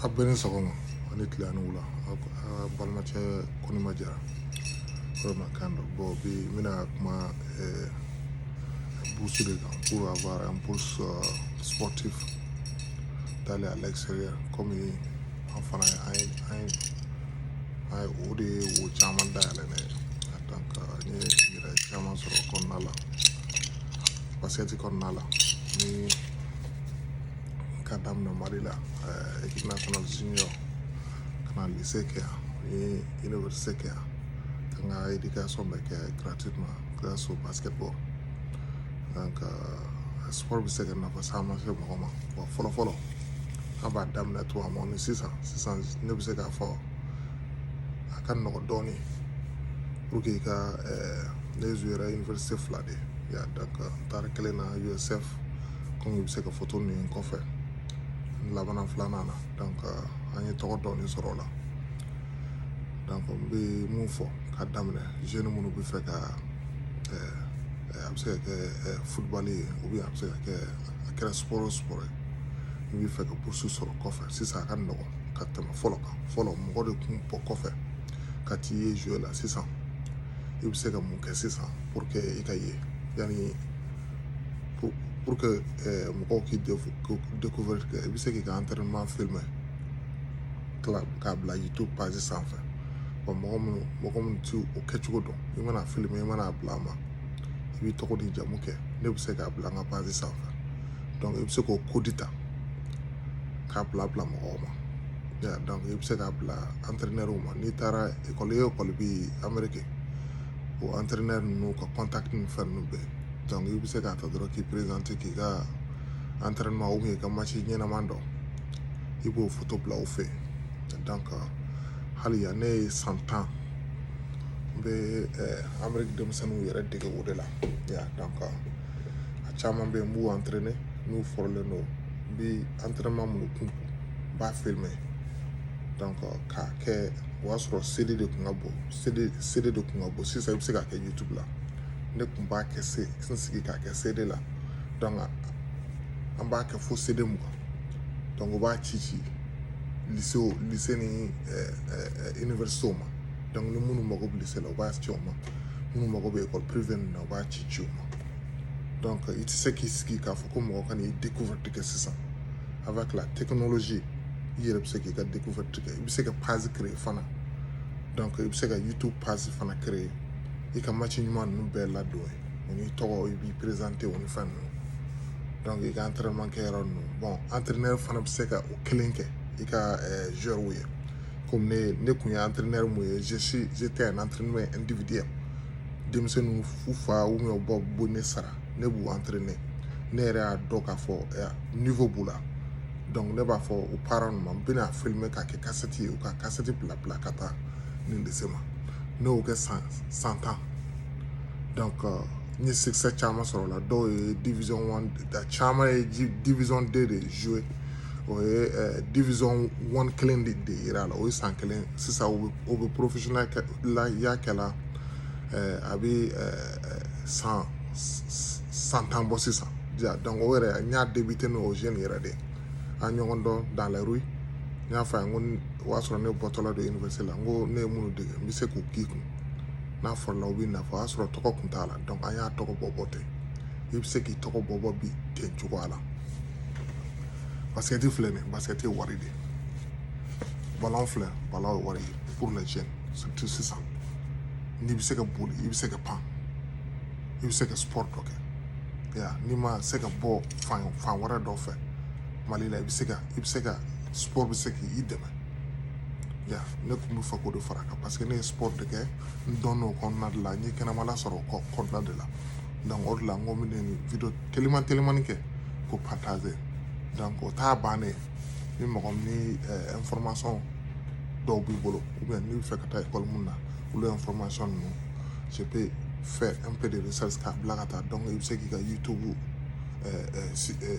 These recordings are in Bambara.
a bɛɛ ni sɔgɔma a ni tile a ni wula a balimacɛ kɔnimba jara kumakan don bon bi n bɛna kuma bourse de kan pour avoir un bourse sportif d'aller à l'extérieur comme An fana an ye an ye an ye o de ye wo caman dayɛlɛ ne ye donc n ye hɛrɛ caman sɔrɔ o kɔnɔna la basket kɔnɔna la ni ka daminɛ Mali la ɛɛ équipe nationale junior ka na lycée kɛ yan n ye université kɛ yan ka n ka éducation bɛɛ kɛ gratuitement grâce au basketball donc euh, sport bɛ se ka nafa caman se mɔgɔ ma wa fɔlɔ fɔlɔ an b'a daminɛ tuma min ni sisan sisan ne bɛ se k'a fɔ a ka nɔgɔn dɔɔnin pour que i ka eh, ne jouera université fila de yan donc n taara kelen na usf komi i bɛ se ka foto nin ye n kɔfɛ n labanna filanan na donc eh, an ye tɔgɔ dɔɔnin sɔrɔ o la donc n bɛ mun fɔ ka daminɛ jeune minnu b'a fɛ ka eh, a bɛ se ka kɛ football ye ou bien a bɛ se ka kɛ a kɛra sport o sport ye i b'a fɛ ka bourse sɔrɔ kɔfɛ sisan a ka nɔgɔn ka tɛmɛ fɔlɔ kan fɔlɔ mɔgɔ de tun bɔ kɔfɛ ka t'i ye jouer la sisan i bɛ se ka mun kɛ sisan pour que i ka ye yanni pour que eh, mɔgɔw k'i découvrir kɛ i bɛ se k'i ka entraînement filmé tila k'a bila youtube page sanfɛ wa mɔgɔ minnu mɔgɔ minnu ti o kɛcogo dɔn i mana a filmé i mana a bila n ma i b'i tɔgɔ ni jamu kɛ ne bɛ se k'a bila n ka page sanfɛ dɔnku i bɛ se k'o kodi ta k'a bila bila mɔgɔw ma dɔnku i bɛ se k'a bila antɛrɛnɛriw ma n'i taara ekɔli o ekɔli bi ameriki o antɛrɛnɛri ninnu ka kɔntakiti ni fɛn ninnu bɛɛ dɔnku i bɛ se k'a ta dɔrɔn k'i perezante k'i ka antɛrɛnɛmaw i ka masi ɲɛnama dɔw i b'o foto bila u fɛ dɔnku hali yan ne ye san tan n bɛ anbari denmisɛnninw yɛrɛ dege o de la dan kan a caman bɛ n b' an tren n'u fɔlen don n bɛ an terirma minnu kun n ba feere mɛn dan ka kɛ o y'a sɔrɔ seli de tun ka bon seli de tun ka bon sisan i bɛ se ka kɛ jitu la ne tun b'a kɛ n sigi ka kɛ seli la dan an b'a kɛ fo seli mu kan b'a ci ci ni bɛ so ma donc ni minnu mago bɛ lycée la u b'a ci o ma minnu mago bɛ école privée ninnu na u b'a ci ci o ma donc i tɛ se k'i sigi k'a fɔ ko mɔgɔ ka n'i découverte kɛ sisan avec la technologie i yɛrɛ bɛ se k'i ka découverte kɛ i bɛ se ka page créer fana donc i bɛ se ka youtube page fana créer i ka match ɲuman ninnu bɛɛ ladon yen o n'i tɔgɔ i b'i présenter o ni fɛn ninnu donc i ka entraînement kɛ yɔrɔ ninnu bon entraîneur fana bɛ se ka o kelen kɛ i ka joueur ye komi ne ne tun ye entraîneur min ye je suis j'étais un entraîneur individuel denmisɛnninw fu faw ni baw bɛ ne sara ne b'u entraîner ne yɛrɛ y'a dɔn k'a fɔ niveau b'u la donc ne b'a fɔ u parents ma n bɛna filmer k'a kɛ kasɛti ye u ka kasɛti bila bila ka taa université ma ne y'o kɛ san san tan donc euh, n ye succès caman sɔrɔ a la dɔw ye division 1 caman ye division 2 de jouer o ye eh, division one kelen de de yira la o ye san kelen sisan o bɛ professionnel la y'a kɛla eh, a bɛ eh, san san tan bɔ sisan ja donc o yɛrɛ n y'a débuté n'o jeune yɛrɛ de an ɲɔgɔn dɔn dans la rue n y'a fɔ a ye ko o y'a sɔrɔ ne bɔtɔla don université la n ko ne ye minnu dege n bɛ se k'u k'i kun n'a sɔrɔla u bɛ nafa o y'a sɔrɔ tɔgɔ kun t'a la donc an y'a tɔgɔ bɔ bɔ ten i bɛ se k'i tɔgɔ bɔ bɔ bi ten cogoya la basikɛti filɛ nin basikɛti ye wari de ye ballon filɛ ballon ye wari ye pour les jeunes surtout sisan n'i bɛ se ka boli i bɛ se ka pan i bɛ se ka sport dɔ kɛ ya n'i ma se ka bɔ fan fan wɛrɛ dɔ fɛ mali la i bɛ se ka i bɛ se ka sport bɛ se k'i dɛmɛ ya ne tun b'a fɛ k'o de fara a kan parce que ne ye sport de kɛ n dɔn o kɔnɔna de la n ye kɛnɛmala sɔrɔ o kɔnɔna de la donc o de la n ko n bɛ nin video teliman telimani kɛ k'o partager donc o t'a bannen ni mɔgɔ min information eh, dɔw b'i bolo u bɛ n'i bɛ fɛ ka taa ekɔli mun na olu information ninnu sepe fɛ np de bɛ sasi k'a bila ka taa donc i bɛ se k'i ka youtube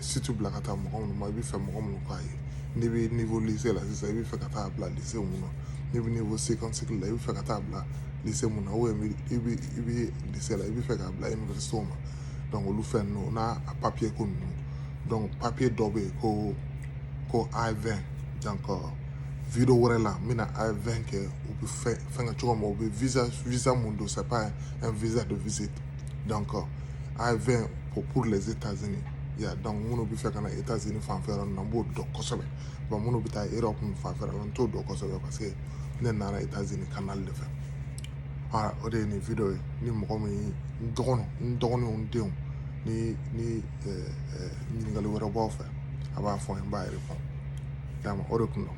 site bila ka taa mɔgɔ minnu ma i bɛ fɛ mɔgɔ minnu k'a ye n'i bɛ niveau lycée la sisan i bɛ fɛ ka taa bila lycée mun na n'i bɛ niveau second cycle la i bɛ fɛ ka taa bila lycée mun na o i bɛ lycée la i bɛ fɛ k'a bila université ma donc olu fɛn ninnu n'a papiye ko ninnu donc papiye dɔ bɛ yen ko ko I-20 donc video wɛrɛ la n bɛna I-20 kɛ u bɛ fɛn fɛn kɛ cogo min u bɛ visa visa mun don c'est pas un visa de visite donc I-20 pour pour les états-unis ya donc minnu bɛ fɛ ka na états-unis fanfɛ yɔrɔ ninnu n b'o dɔn kosɛbɛ bon minnu bɛ taa europe fanfɛ yɔrɔ la n t'o dɔn kosɛbɛ parce que ne nana états-unis canal de fɛ aa o de ye nin video ye ni mɔgɔ min ye n dɔgɔnin n dɔgɔninw n denw ni ni ɲininkali wɛrɛ b'aw fɛ a b'a fɔ n b'a yɛrɛ fɔ o de kun don